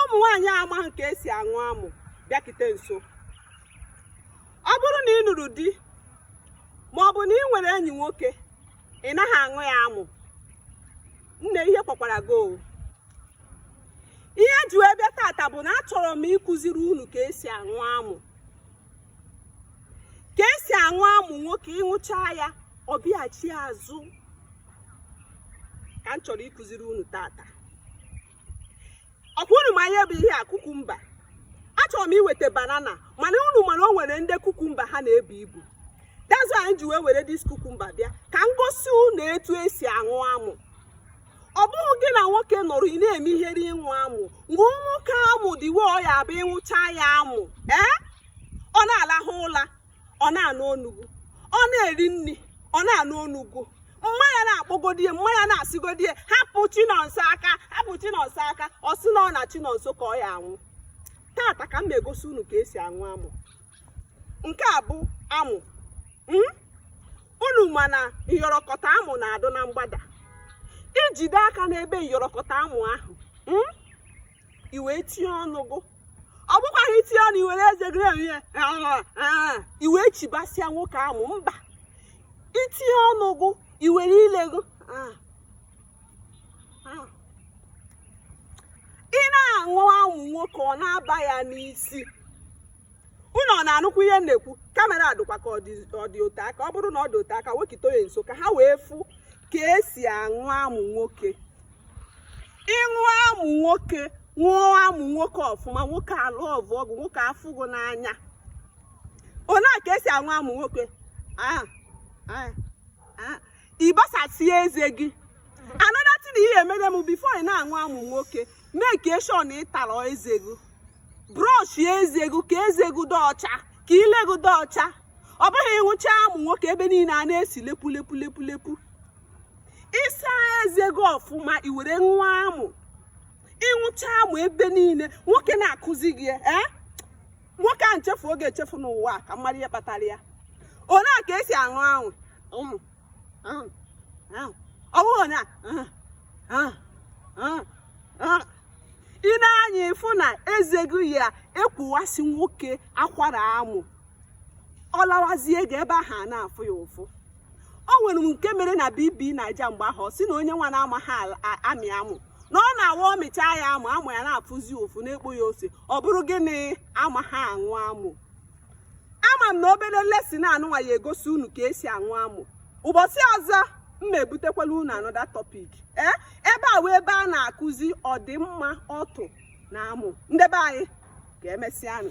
ụmụ nwaanyị amaghị ka esi aṅụ amụ bịakite nso ọ bụrụ na ị nụrụ di ma ọ bụ na ị nwere enyi nwoke ị naghị aṅụ ya amụ nne ihe kwakwara gị o ihe ji wee bịa tata bụ na achọrọ m ịkụziri unu ka esi aṅụ amụ ka esi aṅụ amụ nwoke ịṅụcha ya ọ bịaghachi azụ ka m chọrọ ịkụziri unu tata ọkwa unu ma ihe bụ ihe a kukumba achọrọ m iweta banana mana unu ma na o nwere ndị kukumba ha na-ebu ibu that's why anyị ji wee were dis kukumba bịa ka m gosi unu etu esi aṅụ amụ ọ bụghị gị na nwoke nọrọ ị na-eme ihere ịṅụ amụ ṅụọ nwoke amụ the way ọ ya abụ ịṅụcha ya amụ ee ọ na-alahụ ụla ọ na-anụ onu gụ ọ na-eri nri ọ na-anụ onu gụ mma ya na-akpọgodie mma ya na-asịgodie hapụ chinonso aka hapụ chinonso aka ọ sị na ọ na chinonso ka ọ ya anwụ tata ka m na-egosi unu ka esi aṅụ amụ nke a bụ amụ hmm? unu ma na nyọrọkọta amụ na-adụ na mgbada ijide aka n'ebe nyọrọkọta amụ ahụ hmm? i wee tinye ọnụ gụ ọ bụkwaghị itinye ọnụ i were eze gị rie ya i wee chibasịa nwoke amụ mba itinye ọnụ gụ i were ile gụ ị na-aṅụ amụ nwoke ọ na-aba ya n'isi unu ọ na-anụkwu ihe m na-ekwu kamera dịkwa ka ọ dị ote aka ọ bụrụ na ọ dị ote aka wekituo ya nso ka ha wee fụ ka esi aṅụ amụ nwoke ịṅụ amụ nwoke ṅụọ amụ nwoke ọfụma nwoke alọvụọ gụ nwoke afụ gụ n'anya ole a ka esi aṅụ amụ nwoke ah, ah, ah. ịgbasasie eze gị another thing ihe emere m before ị na-aṅụ amụ nwoke make sure na ị tara eze gị brush eze gị ka eze gị dị ọcha ka ile gị dị ọcha ọ bụghị ịṅụcha amụ nwoke ebe niile a na-esi lepu lepu lepu lepu ịsa eze gị ọfụma i were ṅụọ amụ ịṅụcha amụ ebe niile nwoke na-akụzi gị ya ee nwoke a chefuo gị echefu n'ụwa a ka m mara ihe kpatara ya ole a ka esi aṅụ amụ ụmụ ahụ ahụ ọ bụghị ole a ahụ ahụ ahụ ahụ ị na-aṅụ ya ịfụ na eze gị ya ekwuwasị nwoke akwara amụ ọ lawazie gị ebe ahụ a na-afụ ya ụfụ o nwere nke mere na bb naija mgbe ahụ sị na onye nwa na-amaghị amị amụ na ọ na-awụ ọ mịchaa ya amụ amụ ya na-afụzi ụfụ na-ekpo ya ose ọ bụrụ gị na-amaghị aṅụ amụ ama m na obere lesson a nụnwa ya-egosi unu ka e si aṅụ amụ ụbọchị ọzọ m ma ebutekwala unu another topic ee eh, ebe a wụ ebe a na-akụzi ọdịmma ọtụ na amụ ndị be anyị ka e mesịanụ